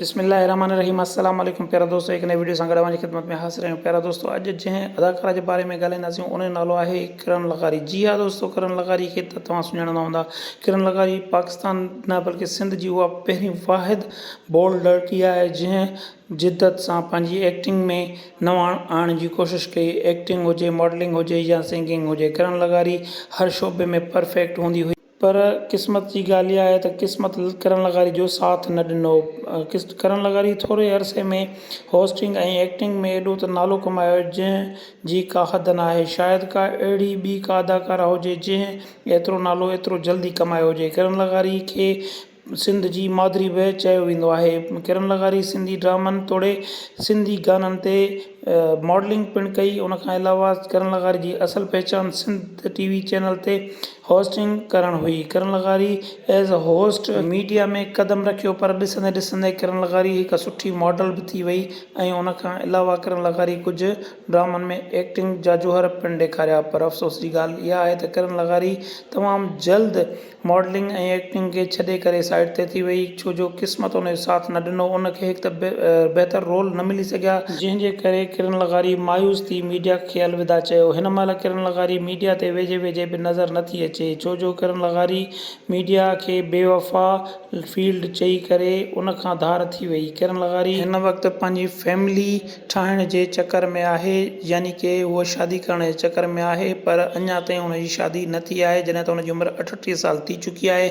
بسم الله الرحمٰن الرحيم السلام عليڪم پيارا دوستو هڪ نئين وڊيو سان گڏ اوهان جي خدمت ۾ حاضر آهيون پيارا دوستو اڄ جنهن اداڪاره جي باري ۾ ڳالهائينداسين ان جو نالو آهي ڪرن لغاري جي ها دوستو ڪرن لغاري کي ته توهان سڃاڻندا هوندا ڪرن لغاري پاڪستان نه بلڪه سنڌ جي اها پهرين واحد بولڊ لڙڪي آهي جنهن جدت سان پنهنجي ايڪٽنگ ۾ نواڻ آڻڻ جي ڪوشش ڪئي ايڪٽنگ هجي ماڊلنگ هجي يا سنگنگ هجي ڪرن لغاري هر شعبي ۾ پرفيڪٽ هوندي هئي پر قسمت جي ڳالهه اها آهي ته قسمت ڪرن لغاري جو ساٿ نه ڏنو. ڪرن لغاري ٿوري عرصي ۾ هوسٽنگ ۽ ايڪٽنگ ۾ ايڏو ته نالو ڪمايو جنهن جي ڪا حد ناهي. شايد ڪا اهڙي ٻي ڪا اداڪارا هجي جنهن ايترو نالو ايترو جلدي ڪمايو هجي. ڪرن لغاري کي سنڌ جي مادري به چيو ويندو آهي. ڪرن لغاري سنڌي ڊرامن توڙي سنڌي گانن تي ماڊلنگ پڻ ڪئي. ان کان علاوه ڪرن لغاري جي اصل پهچان سنڌ ٽي وي چينل تي هوسٽنگ ڪرڻ هئي. ڪرن لغاري ايز اي هوسٽ ميڊيا ۾ قدم رکيو پر ڏسندي ڏسندي ڪرن لغاري هڪ سٺي ماڊل به ٿي وئي ۽ ان کان علاوه ڪرن لغاري ڪجهه ڊرامن ۾ ايڪٽنگ جاجوهر پڻ ڏيکاريا پر افسوس جي ڳالهه اها آهي ته ڪرن لغاري تمام جلد ماڊلنگ ۽ ايڪٽنگ کي ڇڏي ڪري سائيڊ تي ٿي وئي ڇو جو قسمت ان جو ساٿ نه ڏنو ان کي هڪ ته بهتر رول نه ملي سگهيا جنهن جي ڪري ڪرن لغاري مايوس ٿي ميڊيا کي الوداع چيو هن مهل ڪرن لغاري ميڊيا تي ويجهي ويجهي به نظر نه ٿي اچي ڇو جو ڪرن لغاري ميڊيا کي بي وفا فيلڊ چئي ڪري ان کان ڌار ٿي وئي ڪرن لغاري هن وقت پنهنجي فيملي ٺاهڻ جي چڪر ۾ آهي يعني ڪي هوء شادي ڪرڻ جي چڪر ۾ آهي پر اڃا تائين هن جي شادي نه ٿي آهي جڏهن ته هن جي عمر اٺٽيهه سال ٿي چڪي آهي.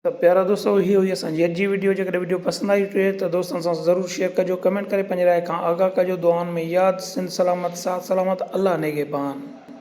ته پيارا دوستو هي هئي اسان جي اڄ جي وڊيو جيڪڏهن وڊيو پسند آئي هجي ته دوستن سان ضرور شيئر ڪجو ڪمينٽ ڪري پنهنجي راء کان آگاهه ڪجو دعائن ۾ ياد سنڌ سلامت ساٿ سلامت الله نگهبان.